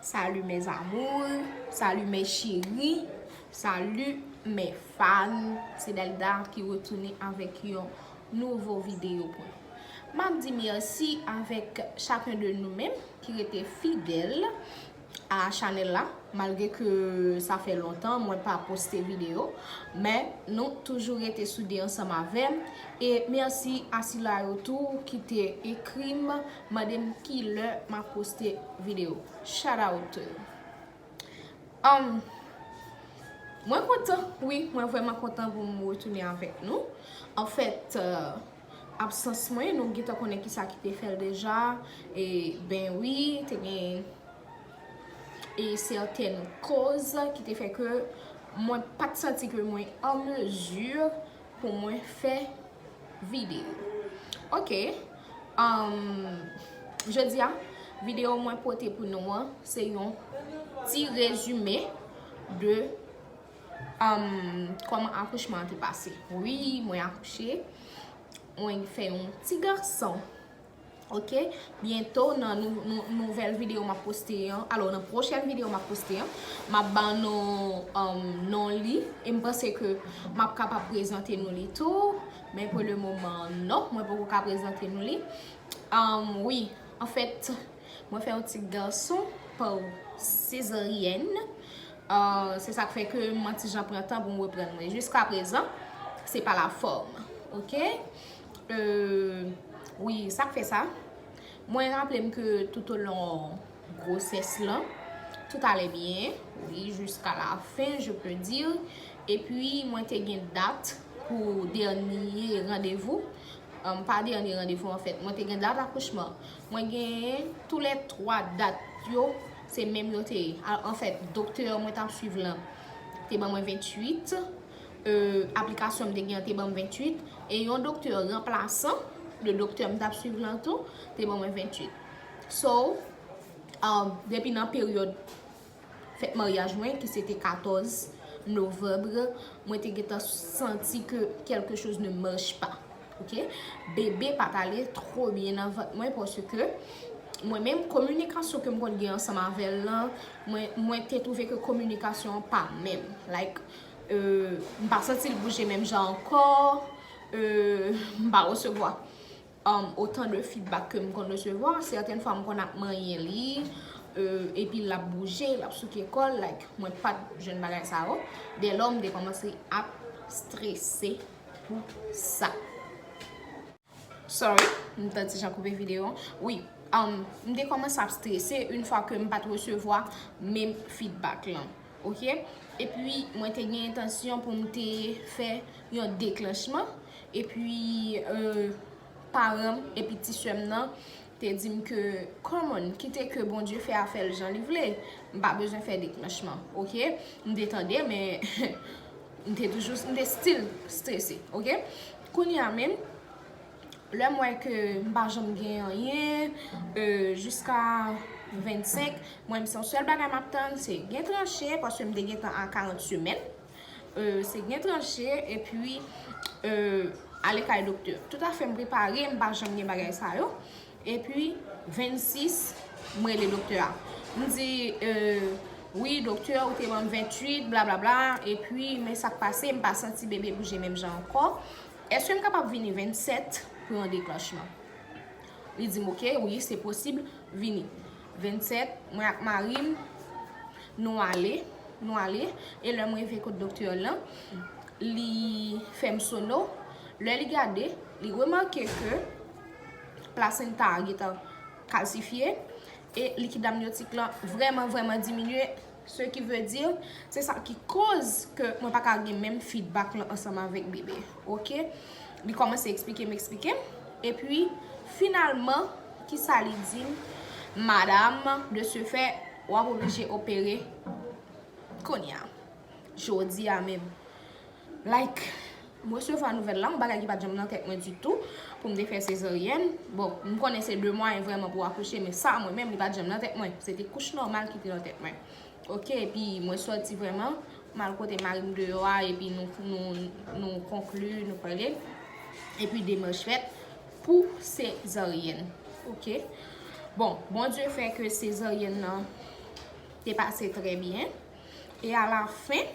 Salut mes amours, salut mes chéris, salut mes fans. Se Delda ki retounen avèk yon nouvo videyo pou nou. Map di merci avèk chacun de nou menm ki rete fidèl. a chanel la malgre ke sa fè lontan mwen pa poste video men nou toujou rete soude ansanm avèm e mèsi a sila yo tou ki te ekrim mandem kilè map poste video shout out to you humm mwen kontan wi mwen vrèman kontan poum retounen avèk nou anfèt. Absans mwen nou gentan konnen kisa ki te fèl deja e ben wi te gen e sètèn koz ki te fè ke mwen pat santi ke mwen an mezi pou mwen fè video ok jodi a video mwen pote pou nou an se yon ti rezime de Koman akouchman an te pase? Wi mwen akouche Mwen fè yon ti gason Ok Byento nan nouvel video map poste an Alo nan pwochen video map poste an Map ba nou non li E m panse ke map kapab prezante nou li tou Men pou le moman non Mwen poko ka prezante nou li Wi Anfèt Mwen fè yon ti gason Pa sezaryen Se sak fè ke mwen ti jan pran tan pou m reprann mwen. Jiska prezan, se pa la fòm. Ok? Wi, sak fè sa? Mwen raple m ke tout o lon gwosès lan, tout ale byen. Wi, jiska la fen, je pe di. E pi, mwen te gen dat pou dènye randevou. Pa dènye randevou, an fèt. Mwen te gen dat akouchman. Mwen gen tou le 3 dat yo. Se menm yo te ye. Al an fèt, doktè mwen tap swiv lan te ban mwen 28, e aplikasyon m te gen an te ban m 28, e yon doktè ranplasan de doktè m tap swiv lan tou te ban mwen 28. So, depi nan peryòd fèt maryaj mwen ki se te 14 novembre, mwen te gentan santi ke kèlke choz ne marche pa. Ok bebe pa pale two byen nan vant mwen paske mwen menm kominikasyon kem konn gen ansanm avèl lan mwen te twouve ke kominikasyon an pa menm like euh m pa santil bouje menm jan ankò euh m pa resevwa otan de fidbak kem konn resevwa sèten fwa m konn ap manyen li euh epi lap bouje lap souke kòl like mwen pat jwenn bagay sa yo dèlò m te kòmanse ap strese. pou sa. Sorry, m ta di jan koupe video an. Wi, m te komanse ap strese yon fwa ke m pa te resevwa menm feedback lan. Ok, e pi mwen te gen entansyon pou m te fè yon deklanchman. E pi, paran m e pi ti sè m nan. te dim ke come on kite ke Bondye fè afèl jan li vle m pa bezwen fè deklanchman ok m te tande men m te toujou m te still strese ok kounye a menm lè m wè ke m pa janm gen anyen jiska 25 mwen m se sèl bagay map tann se gen tranche paske m te gentan a 40 semèn. se gen tranche epi ale kay doktè. Tout afè m prepare, m pa janm gen bagay sa yo. Epi 26, m rele doktè a. M di, wi doktè ou te ban m 28, bla bla bla. Epi men sa k pase, m pa santi bebe bouje menm jan ankò. Eske m kapab vini 27 pou yon deklanchman? Li di m, ok, wi se posib, vini. 27, mwen ak mari m, nou ale, nou ale, e lè m rive kot doktè lan, li fè m sono, lè li gade, li remake ke plasenta a gentan kalsifye, e likid amnyotik lan vrèman vrèman diminye, Ce qui veut dire, se sa ki koz ke mwen pa ka gen menm feedback lan ansanm avèk bebe. Ok. Li kòmanse eksplike m, eksplike m. Epi, finalman, ki sa li di m, Madam, de ce fait, w ap oblije opere kounye a. Jodi a menm. Like M resevwa nouvèl la, yon bagay ki pat janm nan tèt mwen ditou pou m te fè sezaryèn. Bon, m konnen se 2 mwayen vrèman pou w akouche men sa mwen menm li pat janm nan tèt mwen. Se te kouch nòmal ki te nan tèt mwen. Ok, epi mwen sòti vrèman, m al kote mari m deyò a epi nou konkli, nou pale. Epi demach fèt pou sezaryèn. Ok. Bon, Bondye fè ke sezaryèn nan te pase trè byen. E a la fen.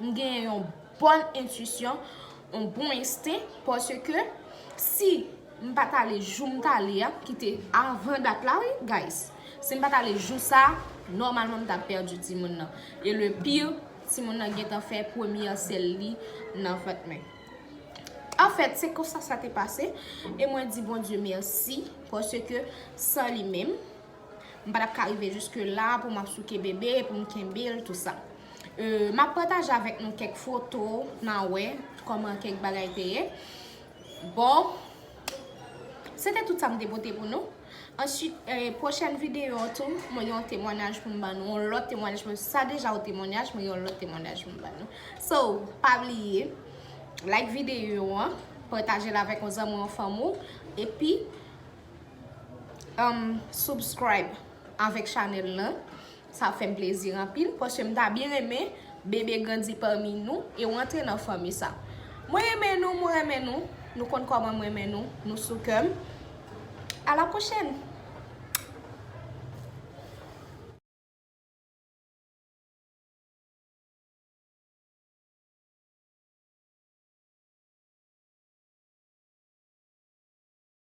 M gen yon bon entuisyon, yon bon ensten, paske si m pa t ale jou m t ale a, ki te avan dat la wi guys, si m pa t ale jou sa, nòmalman m t ap pèdi timoun nan. E le pire, timoun nan gen tan fè premye sèl li nan vant mwen. Anfèt, se konsa sa te pase, e mwen di Bondye mèsi, paske san li menm, M pa tap ka rive jiske la pou m ap souke bebe, pou m kenbe l tout sa. M ap pataje avèk nou kèk foto pou na wè kòman kèk bagay te ye. Bon, se te tout sa m te pote pou nou. Answit, pwochèn videyo an tou, mwen gen yon temwanyaj pou m ban nou. Yon lòt temwanyaj pou m. Sa deja yon temwanyaj, mwen gen yon lòt temwanyaj pou m ban nou. So, pa bliye, like videyo an, pataje l avèk yon zanmi ou yon fanmi ou, epi. Humm subscribe avèk chanèl lan sa ap fèm plezi anpil paske m ta byen renmen bebe grandi pami nou e ou antre nan fanmi sa mwen renmen nou mwen renmen nou nou konn kòman m renmen nou nou sou kè m a la pwochèn.